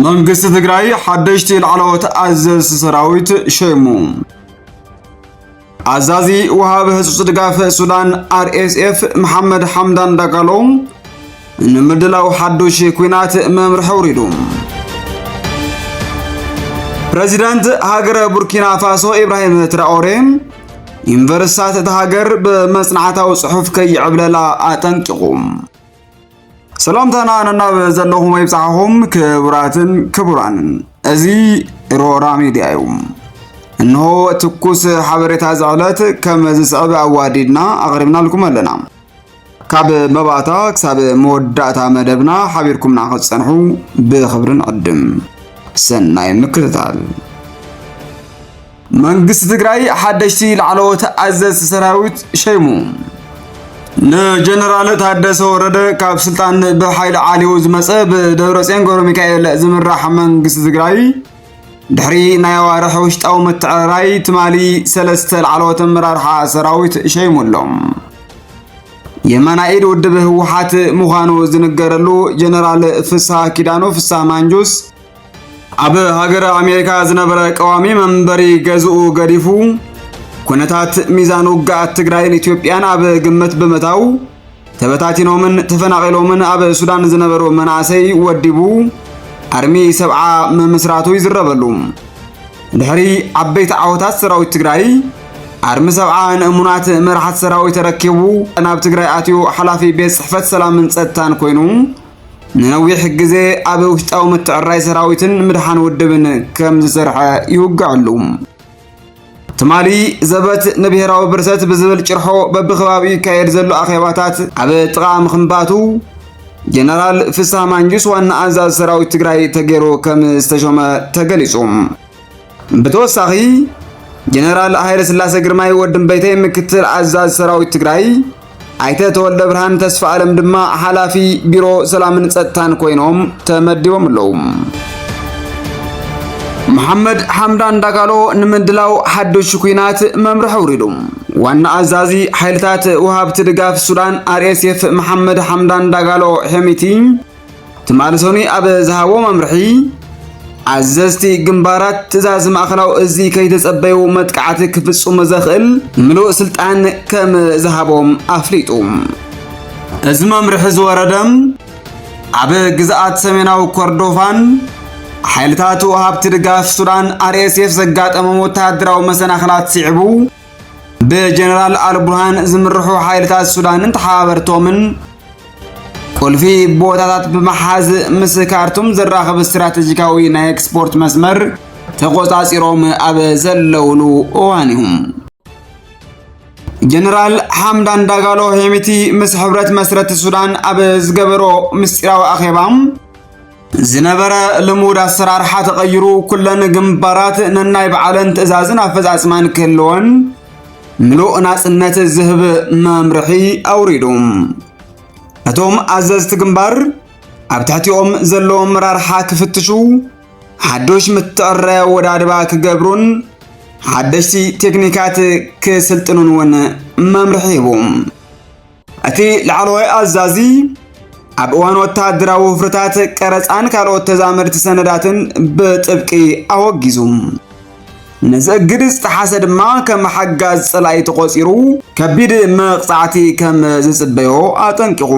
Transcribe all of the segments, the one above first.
መንግስቲ ትግራይ ሓደሽቲ ላዕለዎት ኣዘዝቲ ሰራዊት ሸይሙ። ኣዛዚ ወሃቢ ህጹጽ ድጋፍ ሱዳን RSF መሓመድ ሓምዳን ዳጋሎ ንምድላው ሓዱሽ ኩናት መምርሒ ኣውሪዱ። ፕረዚደንት ሃገረ ቡርኪና ፋሶ ኢብራሂም ትራኦሬ ዩኒቨርሲታት እታ ሃገር ብመጽናዕታዊ ጽሑፍ ከይዕብለላ ኣጠንቂቑ። ሰላምታና ነናብ ዘለኹም ይብጻሕኹም ክቡራትን ክቡራንን፣ እዚ ሮራ ሚድያ እዩ። እንሆ ትኩስ ሓበሬታ ዝዕለት ከም ዝስዕብ ኣዋዲድና ኣቕሪብናልኩም ኣለና። ካብ መባእታ ክሳብ መወዳእታ መደብና ሓቢርኩምና ክትጸንሑ ብኽብሪ ንዕድም። ሰናይ ምክትታል። መንግስቲ ትግራይ ሓደሽቲ ላዕለዎት ኣዘዝቲ ሰራዊት ሸይሙ። ንጀነራል ታደሰ ወረደ ካብ ስልጣን ብሓይሊ ዓልዩ ዝመፀ ብደብረፅዮን ገብረ ሚካኤል ዝምራሕ መንግስቲ ትግራይ ድሕሪ ናይ ኣዋርሕ ውሽጣዊ ምትዕርራይ ትማሊ ሰለስተ ላዕለዎት ኣመራርሓ ሰራዊት ሸይሙ ኣሎ። የመና ኢድ ውድብ ህወሓት ምዃኑ ዝንገረሉ ጀነራል ፍስሃ ኪዳኑ ፍስሃ ማንጁስ ኣብ ሃገረ ኣሜሪካ ዝነበረ ቀዋሚ መንበሪ ገዝኡ ገዲፉ ኩነታት ሚዛን ውግኣት ትግራይን ኢትዮጵያን ኣብ ግምት ብምታው ተበታቲኖምን ተፈናቒሎምን ኣብ ሱዳን ዝነበሩ መናእሰይ ወዲቡ ኣርሚ ሰብዓ ምምስራቱ ይዝረበሉ። ድሕሪ ዓበይቲ ዓወታት ሰራዊት ትግራይ ኣርሚ ሰብዓ ንእሙናት መራሕቲ ሰራዊት ተረኪቡ ናብ ትግራይ ኣትዩ ሓላፊ ቤት ጽሕፈት ሰላምን ጸጥታን ኮይኑ ንነዊሕ ግዜ ኣብ ውሽጣዊ ምትዕራይ ሰራዊትን ምድሓን ውድብን ከም ዝሰርሐ ይውግዐሉ። ትማሊ ዘበት ንብሔራዊ ብርሰት ብዝብል ጭርሖ በብከባቢኡ ይካየድ ዘሎ ኣኼባታት ኣብ ጥቓ ምኽንባቱ ጀነራል ፍስሃ ማንጁስ ዋና ኣዛዝ ሰራዊት ትግራይ ተገይሩ ከም ዝተሾመ ተገሊጹ። ብተወሳኺ ጀነራል ሃይለ ስላሰ ግርማይ ወዲ እምበይተይ ምክትል ኣዛዝ ሰራዊት ትግራይ ኣይተ ተወልደ ብርሃን ተስፋ ኣለም ድማ ሓላፊ ቢሮ ሰላምን ጸጥታን ኮይኖም ተመዲቦም ኣለዉ። መሐመድ ሓምዳን ዳጋሎ ንምድላው ሓዱሽ ኩናት መምርሒ ኣውሪዱ። ዋና ኣዛዚ ሓይልታት ወሃብቲ ድጋፍ ሱዳን ኣርኤስኤፍ መሐመድ ሓምዳን ዳጋሎ ሄሚቲ ትማሊ ሰኑይ ኣብ ዝሃቦ መምርሒ ኣዘዝቲ ግንባራት ትእዛዝ ማእኸላዊ እዚ ከይተጸበዩ መጥቃዕቲ ክፍጽሙ ዘኽእል ምሉእ ስልጣን ከም ዝሃቦም ኣፍሊጡ። እዚ መምርሒ ዝወረደ ኣብ ግዝኣት ሰሜናዊ ኮርዶፋን ሓይልታት ወሃብቲ ድጋፍ ሱዳን ኣርኤስኤፍ ዘጋጠሞም ወተሃደራዊ መሰናኽላት ስዒቡ ብጀነራል ኣልቡርሃን ዝምርሑ ሓይልታት ሱዳንን ተሓባበርቶምን ቁልፊ ቦታታት ብምሓዝ ምስ ካርቱም ዘራኽብ ስትራቴጂካዊ ናይ ኤክስፖርት መስመር ተቆጻጺሮም ኣብ ዘለውሉ እዋን እዩ ጀነራል ሓምዳን ዳጋሎ ሄሚቲ ምስ ሕብረት መስረቲ ሱዳን ኣብ ዝገበሮ ምስጢራዊ ኣኼባ ዝነበረ ልሙድ ኣሰራርሓ ተቐይሩ ኩለን ግንባራት ነናይ በዓለን ትእዛዝን ኣፈጻጽማን ክህልወን ምሉእ ናጽነት ዝህብ መምርሒ ኣውሪዱ። እቶም ኣዘዝቲ ግንባር ኣብ ትሕቲኦም ዘለዉ ኣመራርሓ ክፍትሹ፣ ሓዱሽ ምትዕራይ ኣወዳድባ ክገብሩን ሓደሽቲ ቴክኒካት ክስልጥኑን እውን መምርሒ ሂቡ። እቲ ላዕለዋይ ኣዛዚ ኣብ እዋን ወተሃደራዊ ውፍርታት ቀረፃን ካልኦት ተዛመድቲ ሰነዳትን ብጥብቂ ኣወጊዙ ነዚ እግድ ዝጠሓሰ ድማ ከም ሓጋዝ ፀላኢ ተቖፂሩ ከቢድ መቕፃዕቲ ከም ዝፅበዮ ኣጠንቂቑ።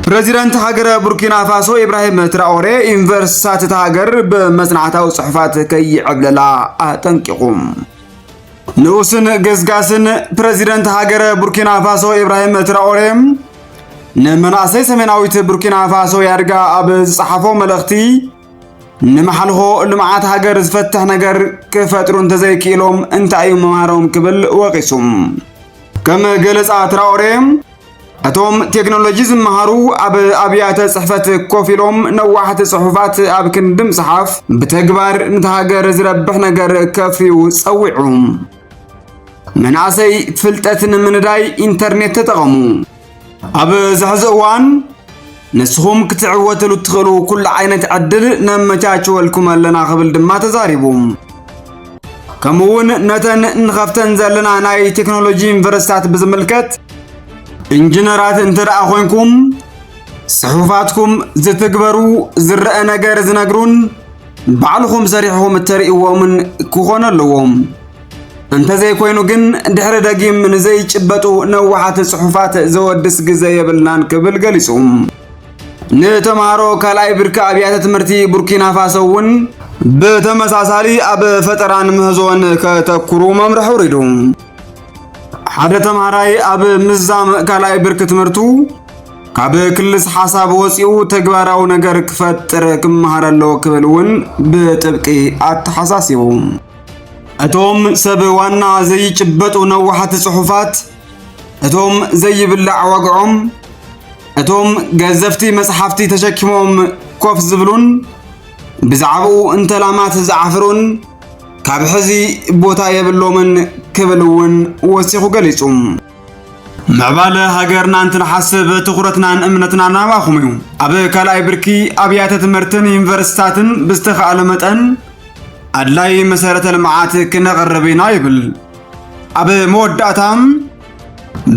ፕሬዚደንት ሃገረ ቡርኪና ፋሶ ኢብራሂም ትራኦሬ ዩኒቨርሲቲታት እታ ሃገር ብመፅናዕታዊ ፅሑፋት ከይዕብለላ ኣጠንቂቑ። ንኡስን ገስጋስን ፕረዚደንት ሃገረ ቡርኪና ፋሶ ኢብራሂም ትራኦሬ ንመናእሰይ ሰሜናዊት ቡርኪና ፋሶ ያድጋ ኣብ ዝጸሓፎ መልእኽቲ ንመሓልኾ ልምዓት ሃገር ዝፈትሕ ነገር ክፈጥሩ እንተዘይክኢሎም እንታይ እዩ መምሃሮም ክብል ወቒሱ ከም ገለጻ ትራኦሬ እቶም ቴክኖሎጂ ዝመሃሩ ኣብ ኣብያተ ጽሕፈት ኮፍ ኢሎም ነዋሕቲ ጽሑፋት ኣብ ክንዲ ምጽሓፍ ብተግባር ነቲ ሃገር ዝረብሕ ነገር ከፍርዩ ጸዊዑ። መናእሰይ ፍልጠት ንምንዳይ ኢንተርኔት ተጠቐሙ። ኣብ ዝሕዚ እዋን ንስኹም ክትዕወትሉ እትኽእሉ ኩሉ ዓይነት ዕድል ነመቻችወልኩም ኣለና ክብል ድማ ተዛሪቡ። ከምኡ እውን ነተን ንኸፍተን ዘለና ናይ ቴክኖሎጂ ዩኒቨርሲታት ብዝምልከት ኢንጂነራት እንተ ደኣ ኮንኩም ጽሑፋትኩም ዝትግበሩ ዝረአ ነገር ዝነግሩን ባዕልኹም ሰሪሕኹም እተርእይዎምን ክኾኑ ኣለዎም። እንተዘይኮይኑ ግን ድሕሪ ደጊም ንዘይጭበጡ ነዋሓት ጽሑፋት ዘወድስ ግዘ የብልናን ክብል ገሊጹ። ንተምሃሮ ካልኣይ ብርኪ ኣብያተ ትምህርቲ ቡርኪና ፋሶ እውን ብተመሳሳሊ ኣብ ፈጠራን ምህዞን ከተኩሩ መምርሒ ውሪዱ። ሓደ ተምሃራይ ኣብ ምዛም ካልኣይ ብርኪ ትምህርቱ ካብ ክልስ ሓሳብ ወፂኡ ተግባራዊ ነገር ክፈጥር ክመሃር ኣለዎ ክብል እውን ብጥብቂ ኣተሓሳሲቡ። እቶም ሰብ ዋና ዘይጭበጡ ነዋሕቲ ጽሑፋት፣ እቶም ዘይብላዕ ዋግዖም፣ እቶም ገዘፍቲ መጽሓፍቲ ተሸኪሞም ኮፍ ዝብሉን ብዛዕባኡ እንተላማት ዝዓፍሩን ካብ ሕዚ ቦታ የብሎምን ክብል እውን ወሲኹ ገሊጹ። ምዕባለ ሃገርና እንትንሓስብ ትኹረትናን እምነትናን ኣባኹም እዩ። ኣብ ካልኣይ ብርኪ ኣብያተ ትምህርትን ዩኒቨርሲታትን ብዝተኻእለ መጠን ኣድላይ መሰረተ ልምዓት ክነቕርብ ኢና ይብል። ኣብ መወዳእታ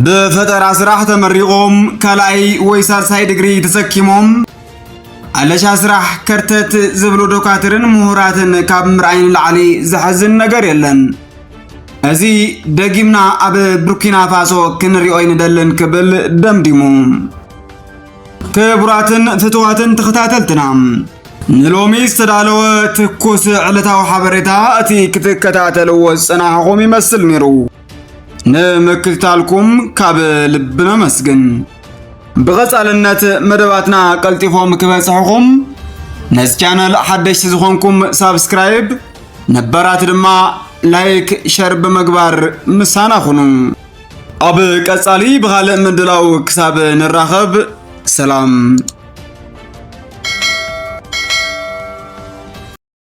ብፈጠራ ስራሕ ተመሪቖም ካልኣይ ወይ ሳልሳይ ድግሪ ተሰኪሞም ኣለሻ ስራሕ ከርተት ዝብሉ ዶካትርን ምሁራትን ካብ ምርኣይ ንላዕሊ ዘሐዝን ነገር የለን። እዚ ደጊምና ኣብ ቡርኪና ፋሶ ክንሪኦ ይንደልን ክብል ደምዲሙ። ክቡራትን ፍትዋትን ተኸታተልትና ንሎሚ ዝተዳለወ ትኩስ ዕለታዊ ሓበሬታ እቲ ክትከታተልዎ ዝጸናሕኹም ይመስል ነይሩ። ንምክትታልኩም ካብ ልቢ ነመስግን። ብቐጻልነት መደባትና ቀልጢፎም ክበጽሕኹም ነዚ ቻነል ሓደሽቲ ዝኾንኩም ሳብስክራይብ ነበራት ድማ ላይክ ሸር ብምግባር ምሳና ኹኑ። ኣብ ቀጻሊ ብኻልእ ምድላው ክሳብ ንራኸብ ሰላም።